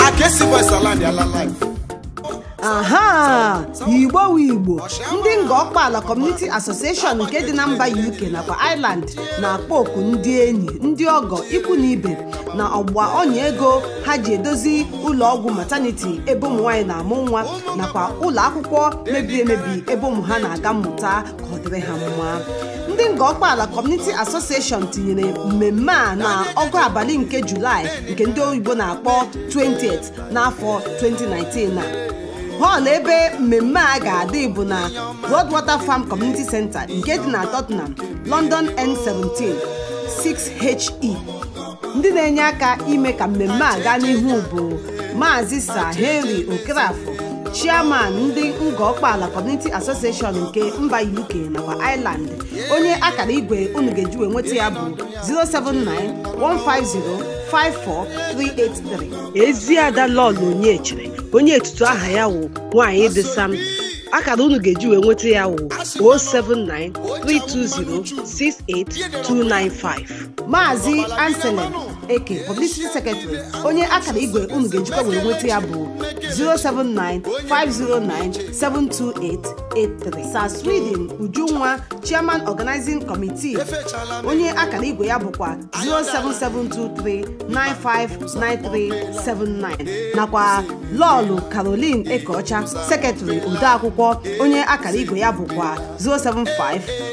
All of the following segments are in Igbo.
Akesi boys are land, they are land life. aha igbo wụ igbo ndị ngọ ọkpala community association nke dị na mba uk nakwa ireland na-akpọ oku ndị enyi ndị ọgọ ikwu na ibe na ọgba ọnya ego ha ji edozi ụlọ ọgwụ maternity ebe ụmụ nwaanyị na-amụ nwa nakwa ụlọ akwụkwọ mebiri emebi ebe ụmụ ha na-aga mmụta ka ọ dịrị ha mma ndị Ngọ Ọkpala Community Association tinyere mmemme a na ọgụ abalị nke Julaị nke ndị oyibo na-akpọ 20th n'afọ 2019 na họl ebe mmemme a ga-adị bụ na Broadwater Farm Community Center nke dị na Tottenham London N17 6HE ndị na-enye aka ime ka mmemme a gaa n'ihu bụ maazị sir henry okorafọ chairman ndị ngọ ọkpala community association nke mba uk nakwa ireland onye akara igwe unu ga-eji wee nweta ya bụ 07915054383 ezi ada lọlọ onyechere onye etutu aha ya wụ nwaanyị dị sam akara unu ga-eji wee nweta ya wụ 079 320 68295 Maazị Anselm Eke Publicity Secretary onye akara igwe unu ga-ejikwa were nweta ya bụ 07950972883 Sir Sweden Ujunwa Chairman Organizing Committee onye akara igwe ya bụkwa 07723959379 nakwa Lọọlọ Caroline Ekeọcha Secretary Odeakwụkwọ onye akara igwe ya bụkwa 075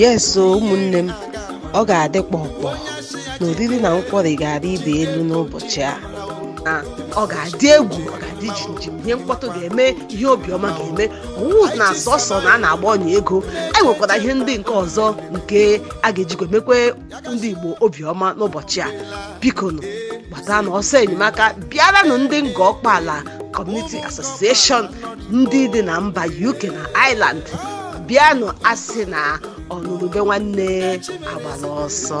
yes o ụmụnne m ọ ga-adị kpọkpọ na oriri na nkwarị ga-adị ibe elu n'ụbọchị a ọ ga-adị egwu ọ ga-adị jinjim ihe mkpọtụ ga-eme ihe obiọma ga-eme ọ wụghị na sọsọ na a na-agba ọnya ego anyị nwekwara ihe ndị nke ọzọ nke a ga-ejikwa mekwe ndị igbo obiọma n'ụbọchị a bikonụ gbatanụ ọsọ enyemaka bịaranụ ndị ngọ ọkpala community association ndị dị na mba uk na ireland bịanụ a sị na ọnụrụ ube nwanne agbala ọsọ